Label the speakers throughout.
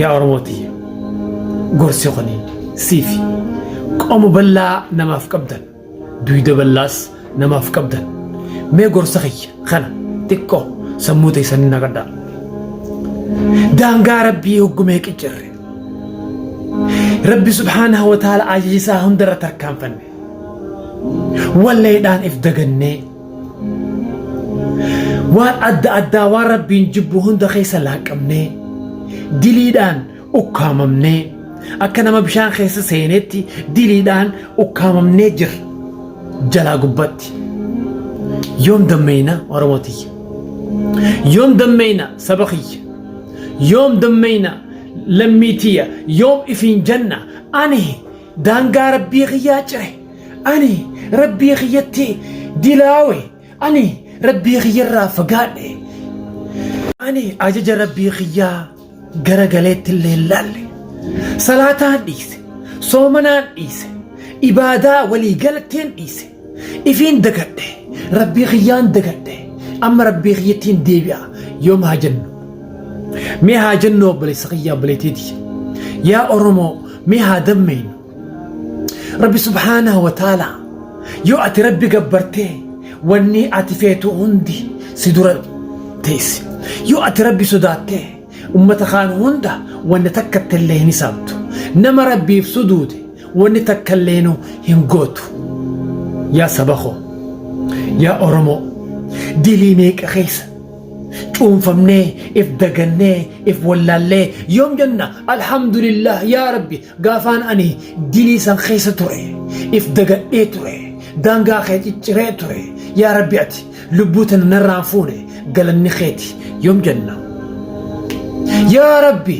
Speaker 1: yaa oromoo tiyya gorsi kuni siifi qomo bal'aa namaaf qabdan duyda bal'aas namaaf qabdan mee gorsa kiyya kana xiqqoo sammuu teessan hin naqadhaa daangaa rabbii hoggumee qiccerre rabbi subhaanahu wa ta'ala ajajisaa hundarra tarkaanfanne walleedhaan if dagannee waan adda addaa waan rabbiin jibbu hunda keessa laaqqamnee diliidhaan ukkaamamnee akka nama bishaan keessa seenetti diliidhaan ukkaamamnee jirra jalaa gubbatti yoom dammeeyna oromoo tiyya yoom dammeeyna saba kiyya yoom dammeeyna lammii tiyya yoom ifiin janna ani daangaa rabbii kiyyaa cire ani rabbii kiyyatti dilaawe ani rabbii kiyyarraa fagaadhe ani ajaja rabbii kiyyaa gara galeetti illee hin laalle salaataan dhiise soomanaan dhiise ibaadaa walii galatteen dhiise Ifiin dagadhe rabbii kiyyaan dagadhe amma rabbii kiyyattiin deebi'a yoom haa jennu mee haa jennu obboleessa kiyya obboleettiiti yaa oromoo mee haa dammeynu rabbi subhaanahu wa ta'ala yoo ati rabbi gabbartee wanni ati feetu hundi si dura teessi yoo ati rabbi sodaattee Ummata kaan hunda wanna takkatti illee hin hisaabtu. Nama Rabbiif suduude wanni takka illeenuu hin gootu. Yaa saba koo! Yaa Oromoo! Dilii meeqa keessa cuunfamnee, if dagannee, if wallaallee yoom jenna Alhamdulillaah yaa Rabbi Gaafaan ani dilii san keessa ture if dagadhee ture daangaa kee cicciree ture yaa rabbi ati lubbuu tana narraa hin fuune galanni keeti yoom janna yaa rabbi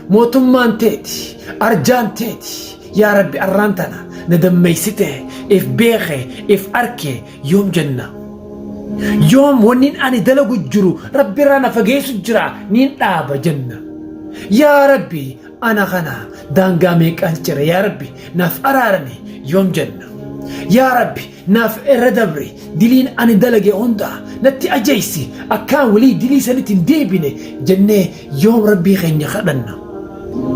Speaker 1: mootummaan teeti arjaan teeti yaa rabbi arraan tana na dammeessite if beeke if arke yoom janna yoom wannin ani dalagu jiru rabbi irraa na fageessu jira niin dhaaba janna yaa rabbi Ana kana daangaa meeqaan cire yaa rabbi naaf araarami yoom jenna. Yaa rabbi naaf irra dabri diliin ani dalage hundaa natti ajeessi akkaan walii dilii sanitti hin deebine jennee yoom rabbii keenya kadhanna.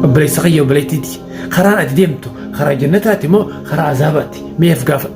Speaker 1: Obboleessa kiyya obboleettiiti karaan ati deemtu karaa jannataati moo karaa azaabaati mee of gaafadhu.